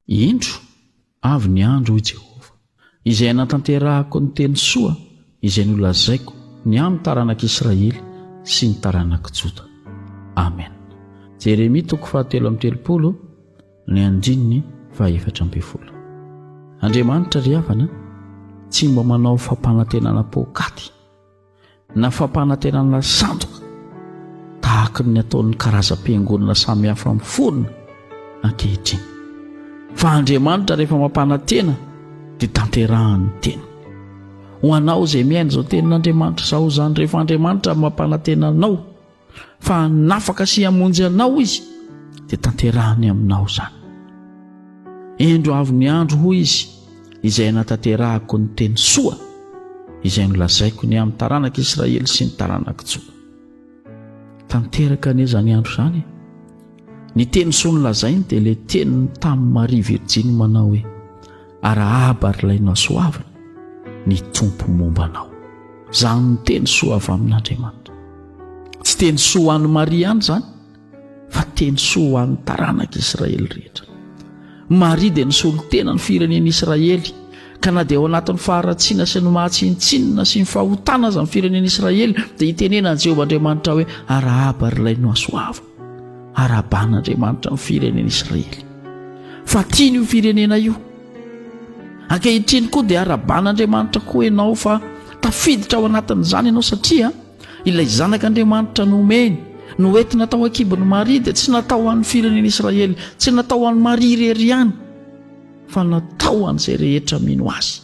Indro, avy ny andro, hoy Jehovah, izay hanatanterahako ny teny soa izay nolazaiko ny amin'ny taranak'Israely sy ny taranak'i Joda. Amena. Jeremia toko fahatelo amby telopolo. Ny andininy fahaefatra ambin'ny folo. Andriamanitra ry havana tsy mba manao fampanantenana poakaty na fampanantenana sandoka tahaka ny ataon'ny karazam-piangonana samihafa miforona ankehitriny. Fa Andriamanitra rehefa mampanantena dia tanterahany ny teny. Ho anao izay mihaino izao tenin'Andriamanitra, izao izany rehefa Andriamanitra mampanantena anao. fa hanafaka sy hamonjy anao izy dia tanterahany aminao izany endro avy ny andro hoy izy izay hanatanterahako ny teny soa izay nolazaiko ny amin'ny taranak'i Israely sy ny taranak'i Joda. Tanteraka anie izany andro izany. Ny teny soa nolazainy dia ilay teny tamin'i Maria Virjiny manao hoe Arahaba ary ilay nasoavina ny tompo momba anao. Izany no teny soa avy amin'Andriamanitra. Tsy teny soa ho an'i Maria ihany izany fa teny soa ho an'ny taranak'i Israely rehetra. Maria dia nisolotena ny firenen'i Israely ka na dia ao anatin'ny faharatsiana sy ny mahatsinotsinona sy ny fahotana aza ny firenen'i Israely dia itenenan'i Jehovah Andriamanitra hoe arahaba ary ilay nasoavina. Arahaban'Andriamanitra ny firenena Israely fa tiany io firenena io. Ankehitriny koa dia arahaban'Andriamanitra koa ianao fa tafiditra ao anatin'izany ianao satria ilay zanak'Andriamanitra nomeny no entina tao an-kibon'i Maria dia tsy natao an'ny firenena Israely, tsy natao an'i Maria irery ihany fa natao an'izay rehetra mino azy.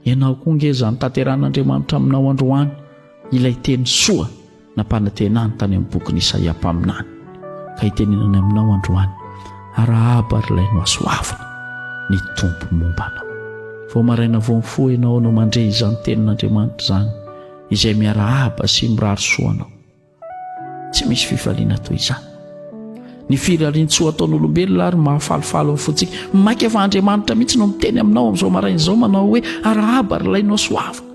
Ianao koa nge izany tanterahan'Andriamanitra aminao androany ilay teny soa nampanantenany tany amin'ny bokin'i Isaia mpaminany. Ka itenenany aminao androany, arahaba ry ilay nohasoavina, ny Tompo momba anao. Vao maraina vao mifoha ianao no mandre izany tenin'Andriamanitra izany, izay miarahaba sy mirary soa anao. Tsy misy fifaliana toy izany. Ny firarian-tsoa ataon'olombelona ary mahafalifaly ao fontsika. Maika fa Andriamanitra mihitsy no miteny aminao amin'izao maraina izao manao hoe arahaba ry lainao soavina.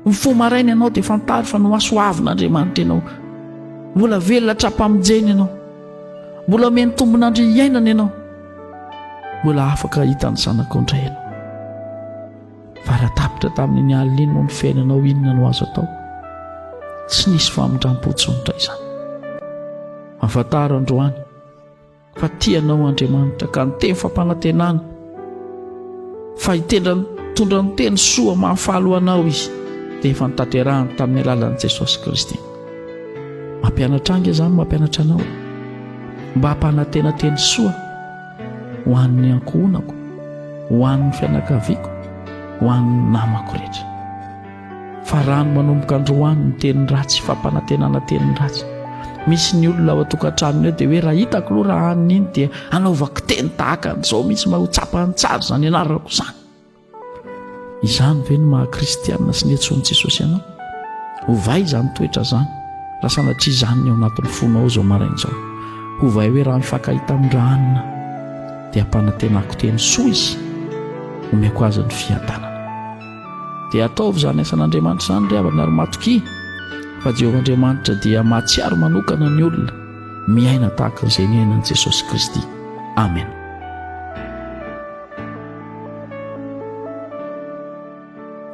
Mifoha maraina ianao dia fantaro fa nohasoavin'Andriamanitra ianao. Mbola velona hatrapamonjena ianao. Mbola omeny tombon'andry hiainana ianao. Mbola afaka hahita ny zanakao indray ianao. Fa raha tapitra tamin'iny alina iny moa ny fiainanao, inona no azo atao? Tsy nisy famindram-po intsony indray izany. Afantaro androany fa tia anao Andriamanitra ka ny teny fampanantenana fa hitendra ny tondra ny teny soa mahafaly ho anao izy dia efa nitanterahany tamin'ny alalan'i Jesosy Kristy. Mampianatra ange izany mampianatra anao mba hampanantena teny soa ho an'ny ankohonako, ho an'ny fianakaviako, ho an'ny namako rehetra. Fa raha no manomboka androany ny teny ratsy, fampanantenana teny ratsy, misy ny olona ao an-tokantranony eo dia hoe raha hitako aloha raha aniny iny dia anaovako teny tahaka an'izao mihitsy mba ho tsapany tsara izany anarako izany. Izany ve no maha kristiana sy ny antsoin'i Jesosy anao? Hovay izany toetra izany raha sanatria izany ny ao anatin'ny fonao izao maraina izao. Hovay hoe raha mifankahita tamin-dRahanina dia ampanantenako teny soa izy, omeko azy ny fiadanana. Dia ataovy izany asan'Andriamanitra izany ry havana ary matokia fa Jehovah Andriamanitra dia mahatsiaro manokana ny olona. Miaina tahaka izay niainan'i Jesosy Kristy. Amen.